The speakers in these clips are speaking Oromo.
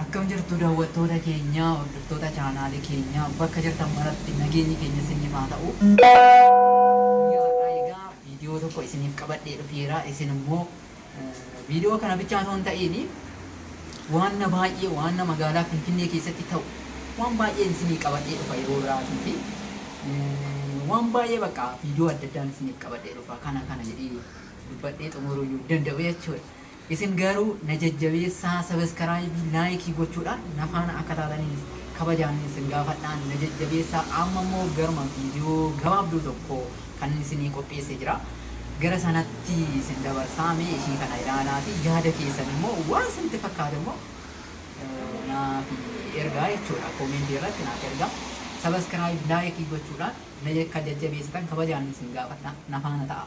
Akkam jirtu daawwattoota keenya, hordoftoota chaanaalii keenya bakka jirtan maratti nageenyi keenya isiniif haa ta'u. Guyyaa har'aa egaa viidiyoo tokko isiniif qabadhee dhufeera. Isin immoo viidiyoo kana bichaa osoo hin ta'iin waan na baay'ee waan na magaalaa Finfinnee keessatti ta'u waan baay'een isinii qabadhee dhufa yeroo biraatii fi waan baay'ee bakka viidiyoo adda addaan isiniif qabadhee dhufa kana kana jedhee dubbadhee xumuruu hin danda'u jechuudha. Isin garuu na jajjabeessaa sabaskaraaybii laayikii gochuudhaan na faana akka taataniin kabajaan isin gaafadha na jajjabeessaa amma immoo garuma viidiyoo gabaabduu tokko kanin isinii qopheesse jira gara sanatti isin dabarsaa mee ishii kana ilaalaati yaada keessan immoo waan isinitti fakkaate immoo naaf ergaa jechuudha koomentii irratti naaf ergaa sabaskaraaybii laayikii gochuudhaan na akka jajjabeessitan kabajaan isin gaafadha na faana ta'aa.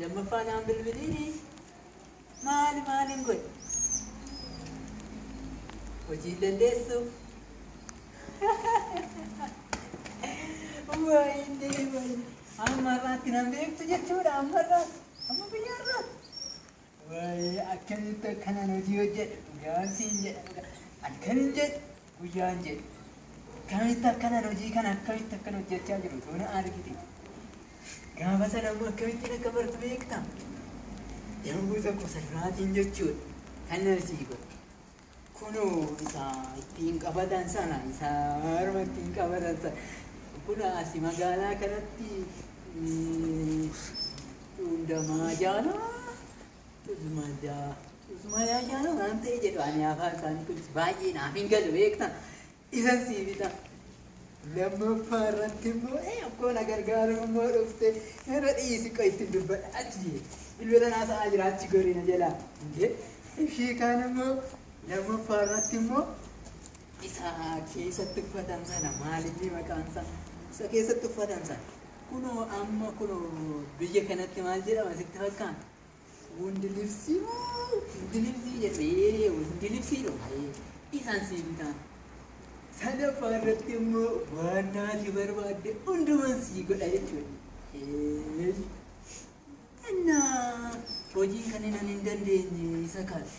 Lammaffaa naan bilbiliini maali maaliin godhe? Hojii hin dandeessu. Wayne wayne amma irraatti nan beektu jechuudha amma irraatti amma biyya irraatti. Wly akkamitti akkanan hojii hojjedha dhugaan siin jedha dhuga halkanin jedhe guyyaan jedhe akkamitti akkanan hojii kana akkamitti akkan hojjechaa jiru too na argite gaafa sana immoo akkamittiin akka bartu beekta yommuu tokko salmaatiin jechuudha kan na sii godhe Kunoo isa ittiin qabatan sana, isa harma ittiin qabatan sana. Kun asi magaalaa kanatti hundamaa jaana cuzmaa jaa cuzmaa yaa jaana waan ta'e jedhu ani afaan isaanii kunis baay'ee naaf hin galu beektan. Isan sii bita. Lammaffaa irratti immoo ee akkoo na gargaaru immoo dhufte irra dhiisi qoy ittiin dubbadha achi jee bilbila naa sa'aa jira achi gorii na jalaa jee ishii kaan immoo lammaffaa irratti immoo isa keessatti uffatan sana maalinni maqaan isaa isa keessatti uffatan sana kunoo amma kunoo biyya kanatti maal jedhama sitti fakkaata Wondi libsii moo hindi libsii jetee wondi libsii dhomayee isaan sii bitaan. Sadaffaa irratti immoo waan naati barbaadde hunduman sii godha jechuudha. Eesh. Annaa hojii kan inan hin dandeenye isa kaati.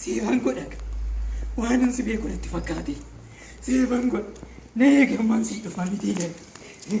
Seefan godha waanan si beeku natti fakkaate seefan godha na eegammaan sii dhufaa miti jedhe.